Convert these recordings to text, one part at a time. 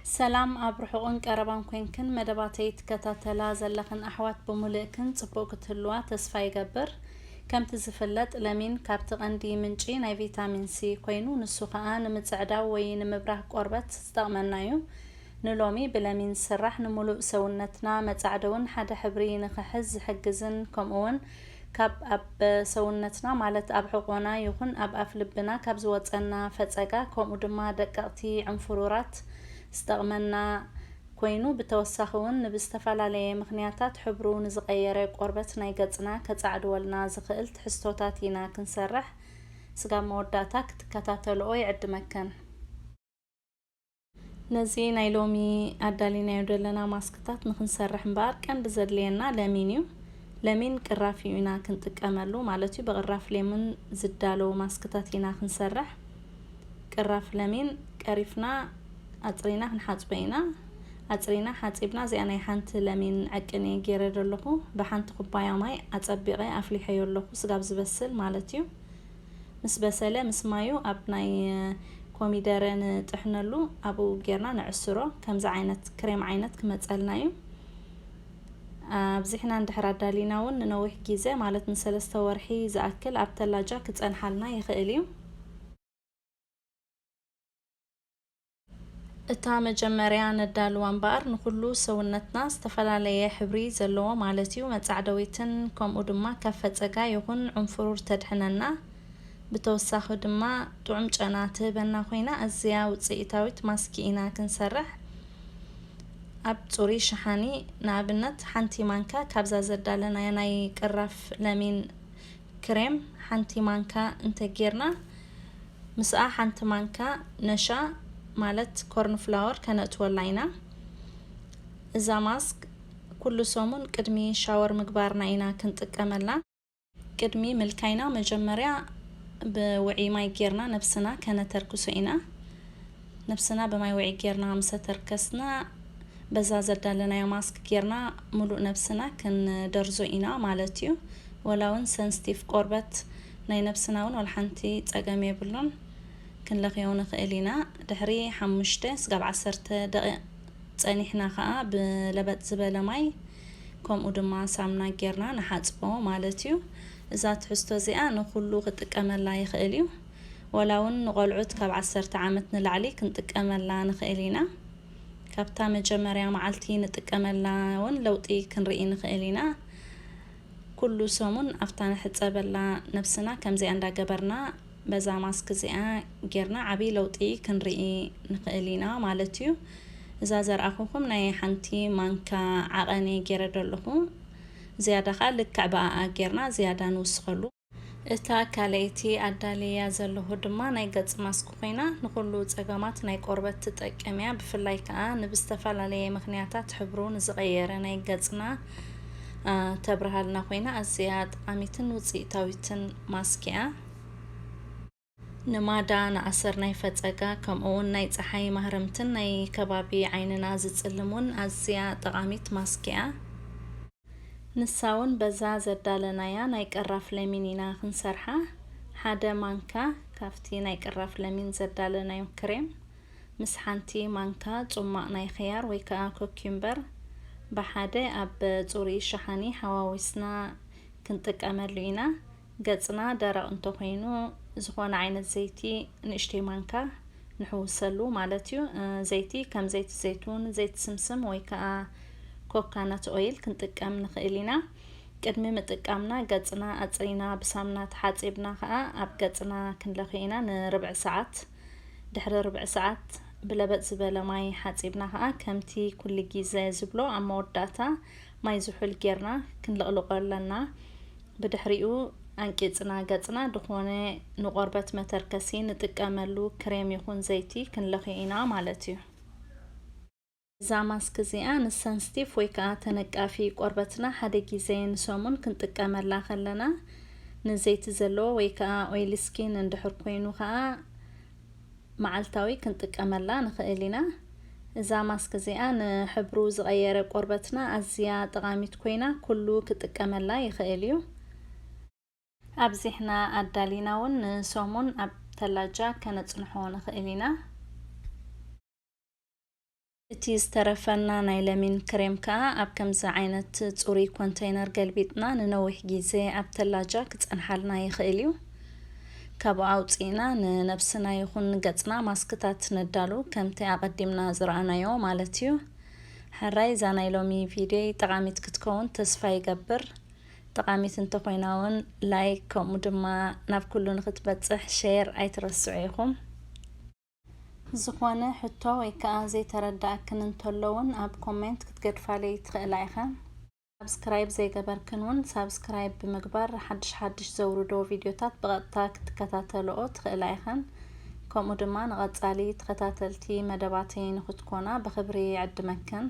ሰላም ኣብ ርሑቕን ቀረባን ኮንክን መደባተይ ትከታተላ ዘለኽን ኣሕዋት ብሙልእክን ጽቡቕ ክትህልዋ ተስፋ ይገብር። ከምቲ ዝፍለጥ ለሚን ካብቲ ቀንዲ ምንጪ ናይ ቪታሚን ሲ ኮይኑ ንሱ ከኣ ንምጽዕዳው ወይ ንምብራህ ቆርበት ዝጠቕመናዩ። ንሎሚ ብለሚን ዝስራሕ ንሙሉእ ሰውነትና መጻዕደውን ሓደ ሕብሪ ንኽሕዝ ዝሕግዝን ከምኡውን ካብ ኣብ ሰውነትና ማለት ኣብ ሕቖና ይኹን ኣብ ኣፍ ልብና ካብ ዝወጸና ፈጸጋ ከምኡ ድማ ደቀቕቲ ዕንፉሩራት ዝጠቕመና ኮይኑ ብተወሳኺ ውን ንብዝተፈላለየ ምኽንያታት ሕብሩ ንዝቐየረ ቆርበት ናይ ገጽና ከጻዕድወልና ዝኽእል ትሕዝቶታት ኢና ክንሰርሕ ስጋብ መወዳእታ ክትከታተልኦ ይዕድመክን። ነዚ ናይ ሎሚ ኣዳሊናዮ ደለና ማስክታት ንክንሰርሕ እምበኣር ቀንዲ ዘድልየና ለሚን እዩ። ለሚን ቅራፍ እዩ ኢና ክንጥቀመሉ ማለት እዩ። ብቅራፍ ሌሙን ዝዳለው ማስክታት ኢና ክንሰርሕ። ቅራፍ ለሚን ቀሪፍና ኣጽሪና ክንሓጽቦ ኢና። ኣጽሪና ሓጺብና እዚኣ ናይ ሓንቲ ለሚን ዕቅን እየ ጌረ ደለኹ። ብሓንቲ ኩባያ ማይ ኣጸቢቐ ኣፍሊሐዮ ኣለኹ ስጋብ ዝበስል ማለት እዩ። ምስ በሰለ ምስ ማዩ ኣብ ናይ ኮሚደረ ንጥሕነሉ ኣብኡ ጌርና ነዕስሮ ከምዚ ዓይነት ክሬም ዓይነት ክመጸልና እዩ ኣብዚሕና እንድሕር ኣዳሊና እውን ንነዊሕ ግዜ ማለት ንሰለስተ ወርሒ ዝኣክል ኣብ ተላጃ ክጸንሓልና ይኽእል እዩ እታ መጀመርያ ነዳልዋ እምበኣር ንኹሉ ሰውነትና ዝተፈላለየ ሕብሪ ዘለዎ ማለት እዩ መጻዕደዊትን ከምኡ ድማ ካብ ፈጸጋ ይኹን ዑንፍሩር ተድሕነና ብተወሳኺ ድማ ጥዑም ጨና ትህበና ኮይና ኣዝያ ውጽኢታዊት ማስኪ ኢና ክንሰርሕ ኣብ ጽሩይ ሸሓኒ ንኣብነት ሓንቲ ማንካ ካብዛ ዘዳለናያ ናይ ቅራፍ ለሚን ክሬም ሓንቲ ማንካ እንተ ጌርና ምስኣ ሓንቲ ማንካ ነሻ ማለት ኮርን ፍላወር ከነእትወላ ኢና። እዛ ማስክ ኩሉ ሰሙን ቅድሚ ሻወር ምግባርና ኢና ክንጥቀመላ። ቅድሚ ምልካይና መጀመርያ ብውዕይ ማይ ጌርና ነብስና ከነተርክሶ ኢና። ነብስና ብማይ ውዒ ጌርና ምሰ ተርከስና በዛ ዘዳለናዮ ማስክ ጌርና ምሉእ ነብስና ክንደርዞ ኢና ማለት እዩ ወላ ውን ሰንስቲፍ ቆርበት ናይ ነብስና ውን ወላ ሓንቲ ጸገም የብሉን ክንለኽዮ ንኽእል ኢና ድሕሪ ሓሙሽተ ስጋብ ዓሰርተ ደቒቕ ጸኒሕና ከኣ ብለበጥ ዝበለ ማይ ከምኡ ድማ ሳምና ጌርና ንሓጽቦ ማለት እዩ እዛ ትሕዝቶ እዚኣ ንኹሉ ክጥቀመላ ይኽእል እዩ ዋላ'ውን ንቖልዑት ካብ ዓሰርተ ዓመት ንላዕሊ ክንጥቀመላ ንኽእል ኢና። ካብታ መጀመርያ መዓልቲ ንጥቀመላ ውን ለውጢ ክንርኢ ንኽእል ኢና። ኩሉ ሰሙን ኣብታ ንሕጸበላ ነብስና ከምዚኣ እንዳገበርና በዛ ማስክ እዚኣ ጌርና ዓብይ ለውጢ ክንርኢ ንኽእል ኢና ማለት እዩ። እዛ ዘርኣኹኹም ናይ ሓንቲ ማንካ ዓቐን እየ ጌረዶ ኣለኹ። ዝያዳ ከኣ ልክዕ ብኣኣ ጌርና ዝያዳ ንውስኸሉ። እታ ካልኣይቲ ኣዳልየያ ዘለኹ ድማ ናይ ገጽ ማስክ ኮይና ንኹሉ ጸገማት ናይ ቆርበት ትጠቅም እያ ብፍላይ ከኣ ንብዝተፈላለየ ምኽንያታት ሕብሩ ንዝቐየረ ናይ ገጽና ተብርሃልና ኮይና ኣዝያ ጠቓሚትን ውጽኢታዊትን ማስክ እያ። ንማዳ፣ ንኣሰር ናይ ፈጸጋ ከምኡውን ናይ ጸሓይ ማህረምትን ናይ ከባቢ ዓይንና ዝጽልም ውን ኣዝያ ጠቓሚት ማስክ ኢያ። ንሳ ውን በዛ ዘዳለናያ ናይ ቀራፍ ለሚን ኢና ክንሰርሓ። ሓደ ማንካ ካብቲ ናይ ቀራፍ ለሚን ዘዳለናዮ ክሬም ምስ ሓንቲ ማንካ ጹማቕ ናይ ኽያር ወይ ከኣ ኮክዩምበር ብሓደ ኣብ ጽሩይ ሸሓኒ ሓዋዊስና ክንጥቀመሉ ኢና። ገጽና ደረቕ እንተኾይኑ ዝኾነ ዓይነት ዘይቲ ንእሽተይ ማንካ ንሕውሰሉ ማለት እዩ። ዘይቲ ከም ዘይቲ ዘይቱን፣ ዘይቲ ስምስም ወይ ከዓ ኮካነት ኦይል ክንጥቀም ንኽእል ኢና። ቅድሚ ምጥቃምና ገጽና ኣጽሪና ብሳምና ተሓጺብና ከዓ ኣብ ገጽና ክንለኽዮ ኢና ንርብዒ ሰዓት ድሕሪ ርብዒ ሰዓት ብለበጥ ዝበለ ማይ ሓጺብና ከዓ ከምቲ ኩሉ ግዜ ዝብሎ ኣብ መወዳእታ ማይ ዝሑል ጌርና ክንልቕልቆ ኣለና ብድሕሪኡ ኣንቂጽና ገጽና ድኾነ ንቆርበት መተርከሲ ንጥቀመሉ ክሬም ይኹን ዘይቲ ክንለኽዮ ኢና ማለት እዩ። እዛ ማስክ እዚኣ ንሰንስቲቭ ወይ ከኣ ተነቃፊ ቆርበትና ሓደ ግዜ ንሰሙን ክንጥቀመላ ከለና ንዘይቲ ዘለዎ ወይ ከኣ ኦይሊ ስኪን እንድሕር ኮይኑ ከኣ መዓልታዊ ክንጥቀመላ ንኽእል ኢና። እዛ ማስክ እዚኣ ንሕብሩ ዝቐየረ ቆርበትና ኣዝያ ጠቓሚት ኮይና ኩሉ ክጥቀመላ ይኽእል እዩ። ኣብዚሕና ኣዳሊና እውን ንሰሙን ኣብ ተላጃ ከነጽንሖ ንኽእል ኢና። እቲ ዝተረፈና ናይ ለሚን ክሬም ከኣ ኣብ ከምዚ ዓይነት ጽሩይ ኮንተይነር ገልቢጥና ንነዊሕ ግዜ ኣብ ተላጃ ክጸንሓልና ይኽእል እዩ። ካብኡ ኣውጺእና ንነብስና ይኹን ንገጽና ማስክታት ነዳሉ ከምቲ ኣቐዲምና ዝረኣናዮ ማለት እዩ። ሕራይ እዛ ናይ ሎሚ ቪድዮይ ጠቓሚት ክትከውን ተስፋ ይገብር። ጠቓሚት እንተኾይና እውን ላይክ ከምኡ ድማ ናብ ኩሉ ንኽትበጽሕ ሼር ኣይትረስዑ ኢኹም። ዝኾነ ሕቶ ወይ ከኣ ዘይተረደኣክን እንተሎ ውን ኣብ ኮሜንት ክትገድፋለይ ትኽእላ ኢኽን። ሳብስክራይብ ዘይገበርክን ውን ሳብስክራይብ ብምግባር ሓድሽ ሓድሽ ዘውርዶ ቪድዮታት ብቐጥታ ክትከታተልኦ ትኽእላ ኢኽን። ከምኡ ድማ ንቐጻሊ ተኸታተልቲ መደባተይ ንኽትኮና ብኽብሪ ይዕድመክን።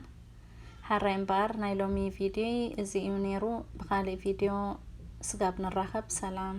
ሐራይ እምበኣር ናይ ሎሚ ቪድዮይ እዚ እዩ ኔሩ ብኻሊእ ቪድዮ ስጋብ ንራኸብ ሰላም።